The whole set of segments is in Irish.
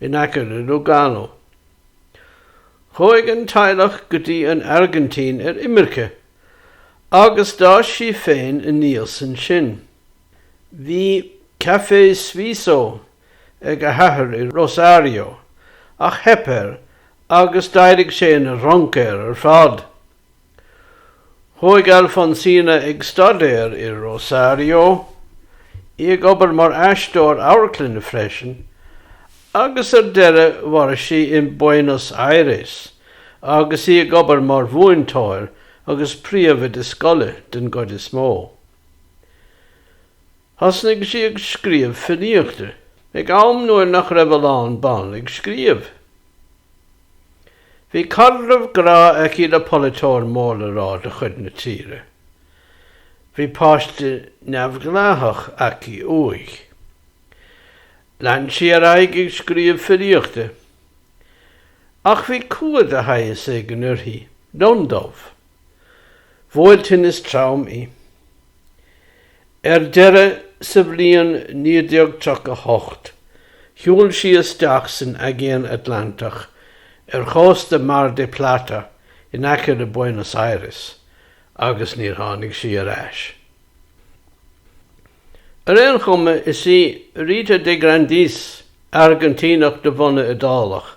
in aice le Lugano. Chuaigh an teaghlach go dtí an Airgintín ar imirce agus d'fhás sí féin aníos ansin. Bhí Café Suizo ag a hathair i Rosario ach theip air agus d'éirigh sé ina dhruncaeir ar fad. Chuaigh Alfonsina ag staidéar i Rosario, í ag obair mar aisteoir amharclainne freisin, agus ar deireadh mhair sí in Buenos Aires agus í ag obair mar mhúinteoir agus príomhoide scoile den gcuid is mó. Thosnaigh sí ag scríobh filíochta ag am nuair nach raibh a lán ban ag scríobh. Bhí caidreamh grá aici le polaiteoir mór le rá de chuid na tíre. Bhí páiste neamhdhleathach aici uaidh. Lean sí ar aghaidh ag scríobh filíochta. Ach bhí cumha de shaghas éigin uirthi, lionndubh. bhuail tinneas trom í. Ar deireadh, sa bhliain 1938, shiúil sí isteach san Aigéan Atlantach ar chósta Mar de Plata in aice le Buenos Aires agus níor tháinig sí ar ais. Ar aon chuma, is í Rita de Grandis, Airgintíneach de bhunadh Iodálach,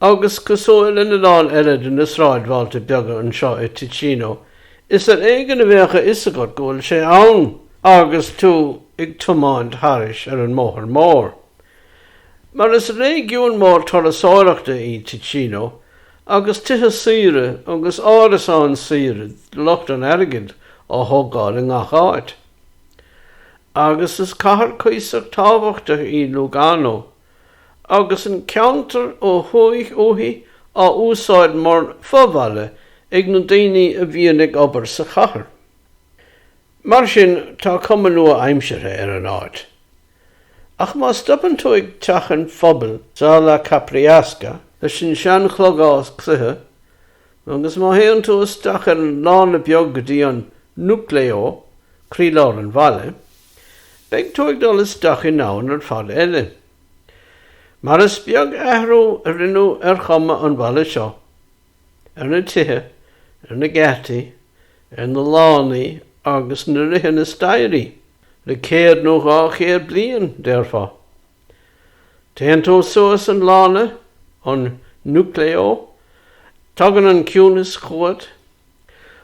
Agus cosúil lena lán eile de na sráidbhailte beaga anseo i Ticino, is ar éigean a bheadh a fhios agat go bhfuil sé ann agus tú ag tiomáint thairis ar an mbóthar mór. Mar is réigiún mór turasóireachta í Ticino, agus tithe saoire agus árasáin saoire do lucht an airgid á thógáil i ngach áit. Agus is cathair cuíosach tábhachtach í Lugano. agus an ceantar ó thuaidh uaithi á úsáid mar fho-bhaile ag na daoine a bhíonn ag obair sa chathair. Mar sin, tá cuma nua-aimseartha ar an áit. Ach má stopann tú ag teach an phobail Sala Capriasca, leis an sean-chlogás cloiche agus má théann tú isteach ar an lána beag go dtí an Nucleo, croílár an bhaile, Beidh tú ag dul isteach i ndomhan ar fad eile. Mar is beag athrú a rinneadh ar chuma an bhaile seo, ar na tithe, ar na geataí, ar na lánaí agus na ríthe na staighrí le céad nó dhá chéad bliain, déarfá. Téann tú suas an lána, an Nucleo, tagann an ciúnas chugat.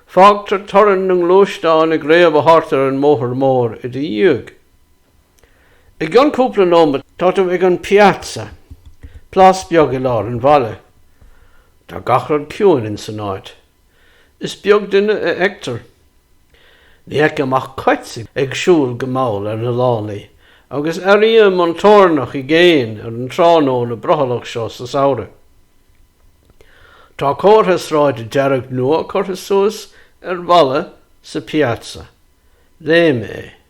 Fágtar torann na ngluaisteán ag réabadh thart ar an mbóthar mór i do dhiaidh. I gcionn cúpla nóimeat tá tú ag an Piazza, plás beag i lár an bhaile. Tá gach rud ciúin insan áit. Is beag duine a fheictear. Ní fheicim ach cait ag siúl go mall ar na lánaí, agus airím an toirneach i gcéin ar an tráthnóna brothallach seo sa samhradh. Tá comhartha sráide dearg nua curtha suas ar bhalla sa Piazza. Léigh mé é.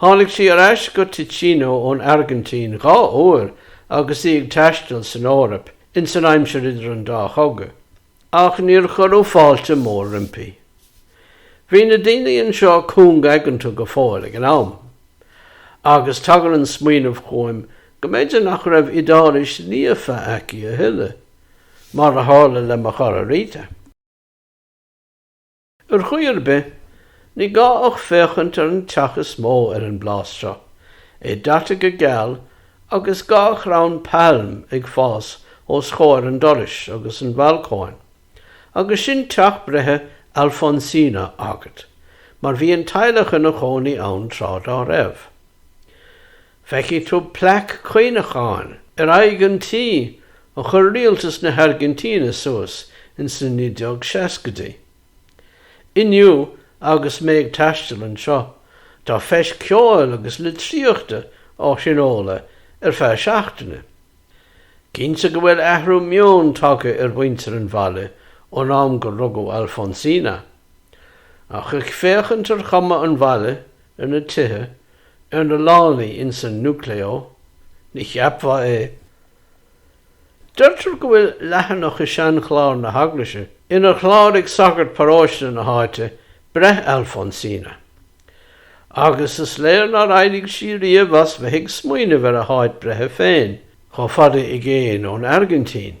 Tháinig sí ar ais go Ticino ón Airgintín dhá uair agus í ag taisteal san Eoraip ins an aimsir idir an dá chogadh, ach níor cuireadh fáilte mór roimpi. Bhí na daoine anseo cúng-aigeanta go fóill ag an am. Agus tagann an smaoineamh chugaim go mb'fhéidir nach raibh Iodáilis líofa aicí a thuilleadh, mar a tharla le mo chara Rita. Ar chaoi ar bith, ní gá ach féachaint ar an teach is mó ar an bplás seo, é daite go geal agus dhá chrann pailm ag fás os chomhair an dorais agus an bhalcóin, agus sin teach breithe Alfonsina agat, mar bhí an teaghlach ina chónaí ann tráth dá raibh. Feicfidh tú plaic cuimhneacháin ar aghaidh an tí a chuir rialtas na hAirgintíne suas ins na 1960idí. Inniu, agus mé ag taisteal anseo, tá feis ceoil agus litríochta á thionóladh ar feadh seachtaine. Cinnte go bhfuil athrú meoin tagtha ar mhuintir an bhaile ón am gur rugadh Alfonsina. Ach ag féachaint ar chuma an bhaile, ar na tithe, ar na lánaí ins an Nucleo, ní cheapfá é. Deirtear go bhfuil leathanach i seanchlár na heaglaise inar chláraigh sagart paróiste na háite breith Alfonsina. Agus is léir nár éirigh sí riamh as bheith ag smaoineamh ar a háit breithe féin, chomh fada i gcéin ón Airgintín.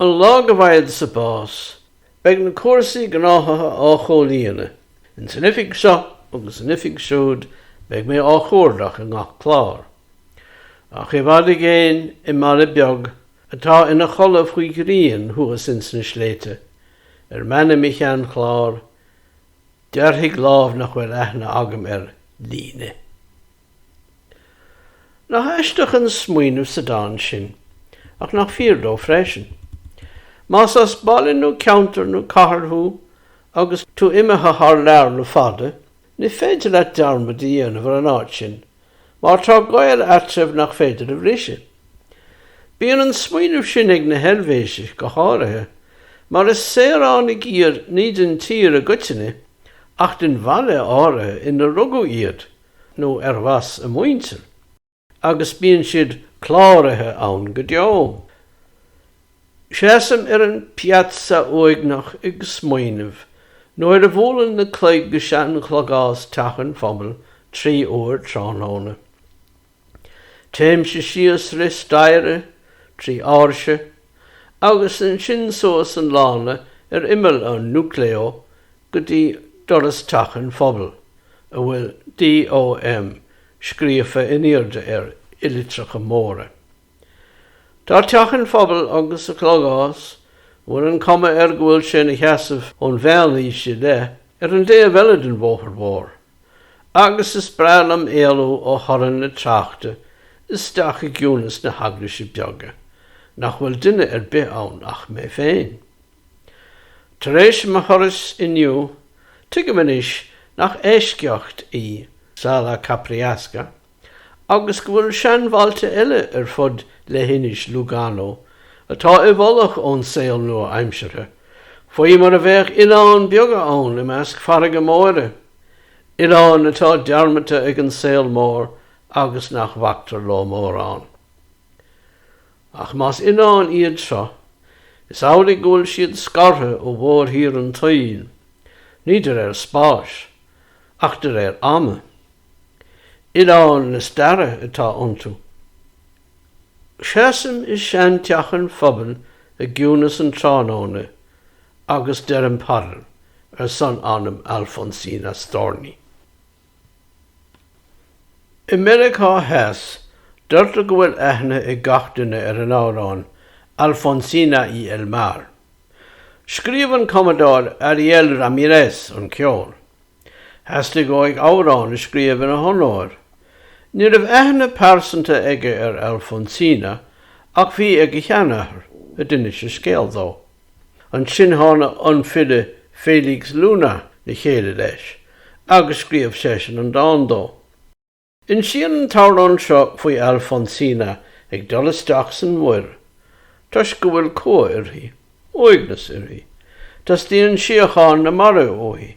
An lá go bhfaigheadsa bás, beidh na cúrsaí gnáthaithe á chomhlíonadh. Ins an oifig seo agus an oifig siúd beidh mé á chuardach i ngach clár. Ach i bhfad i gcéin i mbaile beag atá ina chodladh faoi ghrian thuas ins na sléibhte, ar m'ainm i sheanchlár, dearfaidh lámh nach bhfuil aithne agam air líne. Nach aisteach an smaoineamh sa dán sin, ach nach fíor dó freisin. Más as baile nó ceantar nó cathair thú agus tú imithe thar lear le fada, ní féidir leat dearmad a dhéanamh ar an áit sin, mar tá gaol eatraimh nach féidir a bhriseadh. Bíonn an smaoineamh sin ag na hEilvéisigh go háirithe, mar is saoránaigh iad ní den tír i gcoitinne, ach den bhaile áirithe ina rugadh iad, nó arbh as a muintir, agus bíonn siad cláraithe ann go deo. Seasaim ar an piazza uaigneach ag smaoineamh, nuair a bhualann na cloig i sean-chlogás teach an phobail trí uair tráthnóna. Téimse síos sraith staighre, trí áirse, agus ansin suas an lána ar imeall an Nucleo go dtí doras teach an phobail a bhfuil DOM scríofa in airde air i litreacha móra. Tá teach an phobail agus a chlogás, a bhfuil an cuma air go bhfuil sé ina sheasamh ón mheánaois i leith, ar an dtaobh eile den bhóthar mhór, agus is breá liom éalú ó thorann na tráchta isteach i gciúnas na heaglaise bige, nach bhfuil duine ar bith ann ach mé féin. Tar éis mo thurais inniu, tuigim anois nach eisceacht í Sala Capriasca agus go bhfuil seanbhailte eile ar fud leithinis Lugano atá i bhfolach ón saol nua-aimseartha, faoi mar a bheadh oileáin beaga ann i measc farraige móire, oileáin atá dearmadta ag an saol mór agus nach bhactar leo mórán. Ach más oileáin iad seo, is amhlaidh go bhfuil siad scartha ó mhórthír an tsaoil, ní de réir spáis, ach de réir ama. Oileáin na staire atá iontu. Seasaim i seanteach an phobail i gciúnas an tráthnóna agus deirim paidir ar son anam Alfonsina Storni. I Meiriceá Theas, deirtear go bhfuil aithne ag gach duine ar an amhrán Alfonsina y el mar. Scríobh an cumadóir Ariel Ramírez an ceol. Theastaigh uaidh amhrán a scríobh ina honóir. Ní raibh aithne pearsanta aige ar Alfonsina ach bhí ag a sheanathair, a d'inis a scéal dó. Ansin tháinig an file Félix Luna le chéile leis agus scríobh seisean an dán dó. Insíonn an t-amhrán seo faoi Alfonsina ag dul isteach san muir toisc go bhfuil cumha uirthi, uaigneas uirthi. Teastaíonn síocháin na mara uaithi.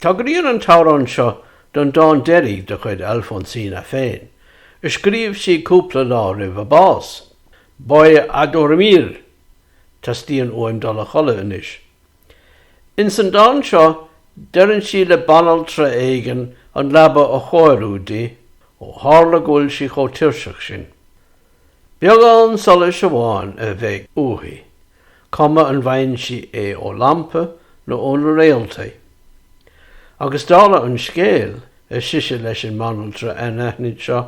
Tagraíonn an t-amhrán seo don dán deiridh de chuid Alfonsína féin, a scríobh sí cúpla lá roimh a bás, 'Voy a dormir', Teastaíonn uaim dul a chodladh anois. Ins an dán seo, deireann sí le banaltra éigin an leaba a chóiriú di, ó tharla go bhfuil sí chomh tuirseach sin. Beagán solais amháin a bheidh uaithi, cuma an bhfaigheann sí é ó lampa nó ó na réaltaí. Agus dála an scéil, ar sise leis an mbanaltra anaithnid seo,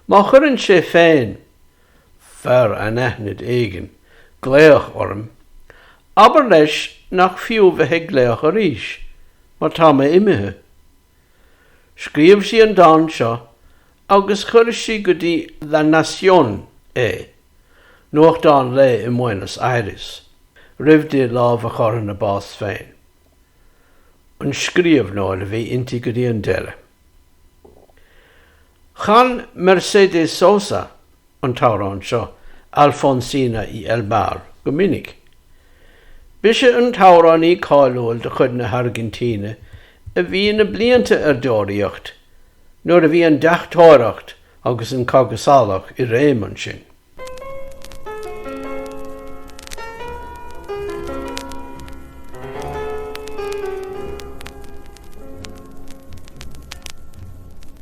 má chuireann sé féin, fear anaithnid éigin, glaoch orm, abair leis nach fiú bheith ag glaoch arís, mar tá mé imithe. Scríobh sí an dán seo agus chuir sí go dtí La Nación é, nuachtán lae i mBuenos Aires, roimh di lámh a chur ina bás féin. An scríobhnóir a bhí inti go dtí an deireadh. Chan Mercedes Sosa an t-amhrán seo Alfonsina y el mar go minic. B'ise an t-amhránaí cáiliúil de chuid na hAirgintíne a bhí na blianta ar deoraíocht nuair a bhí an deachtóireacht agus an cogadh salach i réim ansin.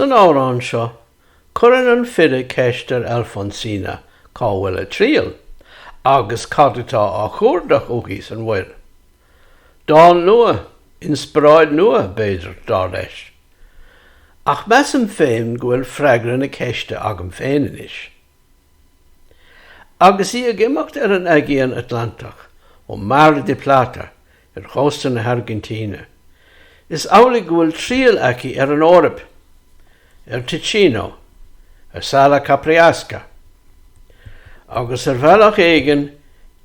San amhrán seo, cuireann an file ceist ar Alfonsina cá bhfuil a triall, agus cad atá á chuardach uaithi san mhuir. Dán nua, inspioráid nua, b'fhéidir, dar leis. Ach measaim féin go bhfuil freagra na ceiste agam féin anois. Agus í ag imeacht ar an Aigéan Atlantach ó Mar de Plata ar chósta na hAirgintíne, is amhlaidh go bhfuil triall aici ar an Eoraip, ar Ticino, ar Sala Capriasca. Agus ar bhealach éigin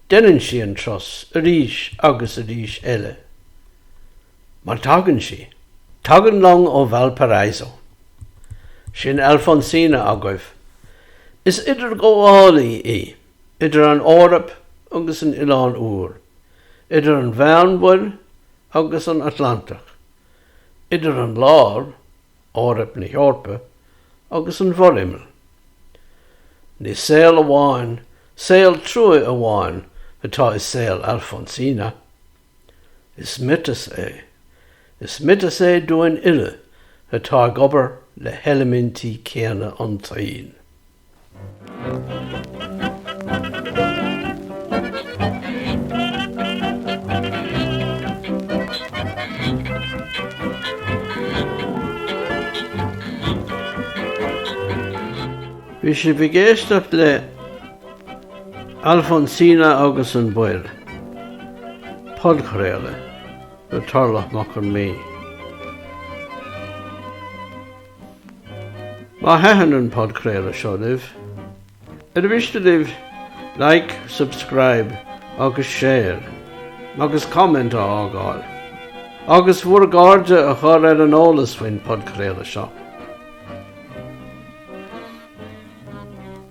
déanann sí an turas arís agus arís eile. Mar tagann sí. Tagann long ó Valparaiso. Sin Alfonsina agaibh. Is idirghabhálaí í, idir an Eoraip agus an Oileán Úr, idir an Mheánmhuir agus an Atlantach, idir an lár, Eoraip na hEorpa, agus an bhforimeall. Ní saol amháin, saol trua amháin, atá i saol Alfonsina. Is miotas é. Is miotas é dúinn uile atá ag obair le heilimintí céanna an tsaoil. Bhí sibh ag éisteacht le. Alfonsina agus an Mhuir, podchraoladh le Torlach Mac Con Midhe. Má thaitin an podchraoladh seo libh, ar mhiste libh Like, Subscribe agus Share agus Comment a fhágáil, agus bhur gcairde a chur ar an eolas faoin podchraoladh seo?